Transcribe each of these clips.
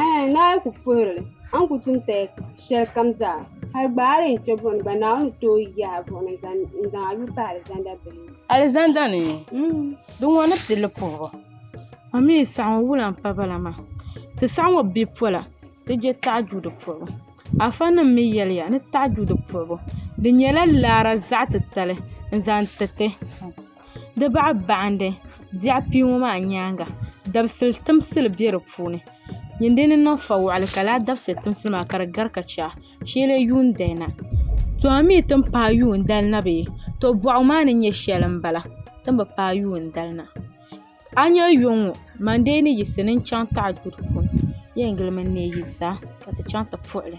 Ɛɛ, Naa ku puhiri li, a ni ku tum taya shɛlikam zaa, hal gba a lee kpe bɔni gba, Naawuni ni tooi yahi a buɣili n-zaŋ a lu m-pa alizanda bili ni. Alizanda ni? Di ŋɔ ni pilli puhibu. A mi yi saɣi ŋɔ wula m-pa ba la maa? Ti saɣi ŋɔ bi pola, ti je taɣijuuda puhibu. Afanim mi yɛliya ni taɣijuuda puhibu di nyɛla laara zaɣ titali n-zaŋ tiriti. di baɣa baɣandi biɛɣ kpii ŋɔ maa nyaanga dabisili timsili be di puuni din dini niŋ fa waɣali ka lala dabisili timsili maa ka di gari ka chɛ shee n yuun dali na to a mi ti ni paai yuun dali na bee to boɣu maa ni nyɛ shɛli m bala ti ni bi paai yuun dali na a nya yɔŋ ŋɔ mandee ni yiɣisi ni n chaŋ taɣi duu di puuni di yɛn gilimi n neei yi zaa ka ti chaŋ ti puɣi li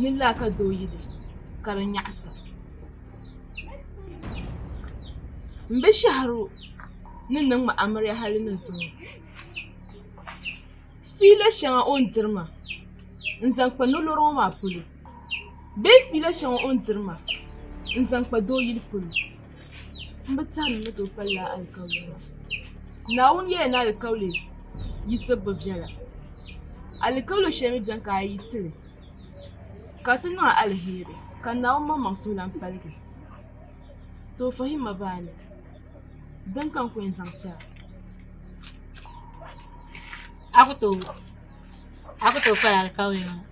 ni laa ka doo yi di ka di nyaɣisi o m be shɛhiro ni niŋ ma amiliya hali ni zuŋɔ fiila shɛŋa o ni diri maa n zaŋ kpa nolɔri ŋɔ maa polo bee fiila shɛŋa o ni diri maa n zaŋ kpa doo yili polo n bi tari ni ti o kpalila alikauli maa. Naawuni yɛla ni alikauli yisi bi viɛla. Alikauli shɛli mi beni ka a yisi li ka ti niŋ a alheri ka Naawuni maŋmaŋ suhulan paligi. So fahim ma baa ni beni ka n ku yɛn zaŋ ti a.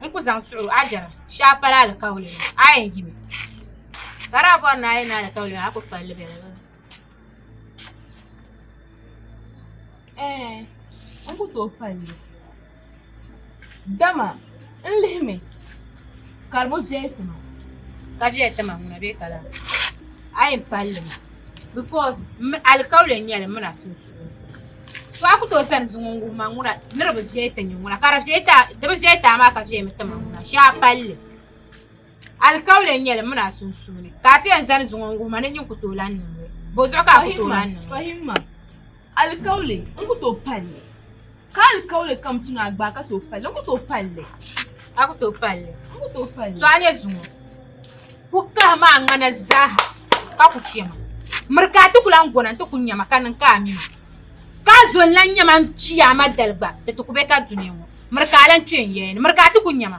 n ku zaŋ suɣu a jɛra shee a pali alikauli maa a yi yɛn yimi ka di daa bɔri ni a yi ni alikauli maa a ku palli bɛ zuɣu ɛɛh n ku tooi palli dama n lihimi ka di bi viɛli tima ka viɛli tima ŋuna bee ka lana a yi yɛn palli maa bikɔs alikauli n-nyɛ li m mi na sunsuuni To a ku tooi zani zuŋɔ n-wuhi ma ŋuna ni di bi viɛli ti nya ŋuna ka di viɛli ti a di bi viɛli ti a maa ka viɛmi ti ma ŋuna shee a palli alikauli n-nyɛ li mini a sunsuuni ka a ti yɛn zani zuŋɔ n-wuhi ma ni nyin ku tooi lan niŋ li bɔzuɣu ka a ku tooi lan niŋ li. Ka alikauli kam tu ni a gbaai ka tooi palli, n ku tooi palli li. A ku tooi palli li. N ku tooi palli li. To a ni zuŋɔ ku kahi ma a ŋana zaaha ka ku chɛ ma. Miri ka a ti ku lan gona nti ku nya ma ka niŋ ka a mi ma. Ka a zo n-lan nya ma n-chi a ma dali gba, di ti ku be ka dunia ŋɔ. Miri ka a lan kpe n yɛya ni. Miri ka a ti ku nya ma.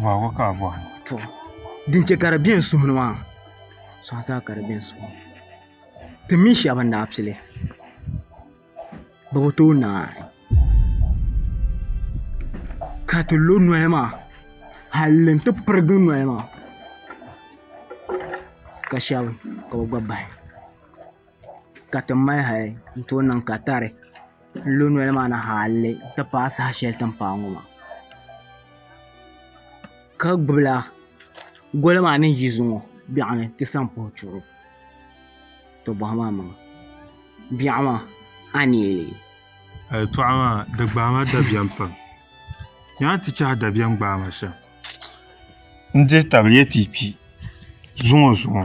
bɔhigu ka a bɔhi to din chɛ ka di bɛ n suhu ni maa suɣa zaa ka di bɛ n suhu ni ti mii shab n daa pili bi bi tooi naai ka ti lo noli maa halli n ti pirigi noli maa ka shab ka bi gba bahi ka ti mali hali n tooi niŋ katari n lu noli maa ni haalli n ti paai saha shɛli tiŋ paai ŋɔ maa ka gbubila goli maa ni yi zuŋɔ biɛɣu ni ti zaŋ puhi chuɣu to bohi maa maŋa biɛɣu maa a ni yi leei yɛltɔɣa maa di gbaai ma dabiɛm pam nyɛ a ni ti chahi dabiɛm gbaai ma shɛm n dihi tabili yɛ ti yi kpi zuŋɔ zuŋɔ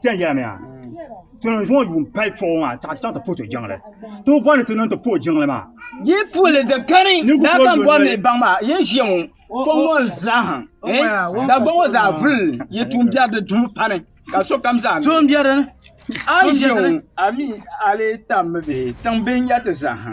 Tiɛn yɛla mi a tɔnɔ zuŋɔ yuun pali tɔɣu maa taɣa chaŋ ti puhi ti jiŋli ti bi bɔri ni ti niŋ ti puhi jiŋli maa yi puhili di kani daa kan bɔri ni baŋ maa yi ʒiya ŋɔ fɔŋ ŋɔ zaaha dagba ŋɔ zaa vuli yi tuun biɛri di dumi pani ka sokam zaa tuun biɛri a ʒiya ŋɔ a mi a lee tam mi bihi tiŋ bihi n-nyɛ ti zaaha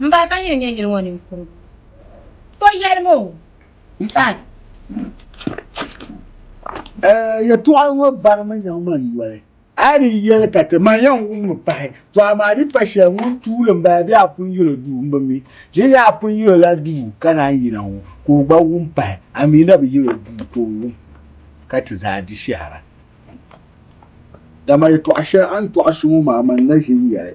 M ba ka yili nyɛ yili ŋɔ ninkurigu. To yɛli ma o ni paai. Ɛɛ, yɛtɔɣa ŋɔ barimi nyaŋ ma n-yoli. A ni yɛli ka ti ma yɛn wummi pahi, to amaa di pa shɛli ŋun tuuli m-bala bee a pun yil o duu m-bi mi. Di ni a pun yil o la duu ka naan yina ŋɔ, ka o gba wum pahi, a mi na bi yil o duu ka o wum ka ti zaa di shɛhira. Dama yɛtɔɣ shɛli a ni tɔɣisi ŋɔ maa man na ʒi n-yɛli.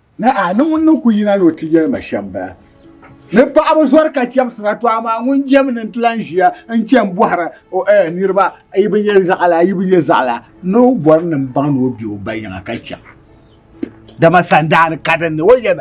Naa, ni ŋun ni ku yina ni o ti yɛli ma shɛm bala. Ni paɣaba zɔri ka chɛmsira, to amaa ŋun jɛm ni nti lan ʒiya n-chɛ m-bɔhiri o, Ɛɛ niriba, a yi bi nyɛ zaɣila, a yi bi nyɛ zaɣila? Ni o bɔri ni m-baŋ ni o be o ba yiŋa ka chaŋ. Dama sandaani kadinni o yɛli ma.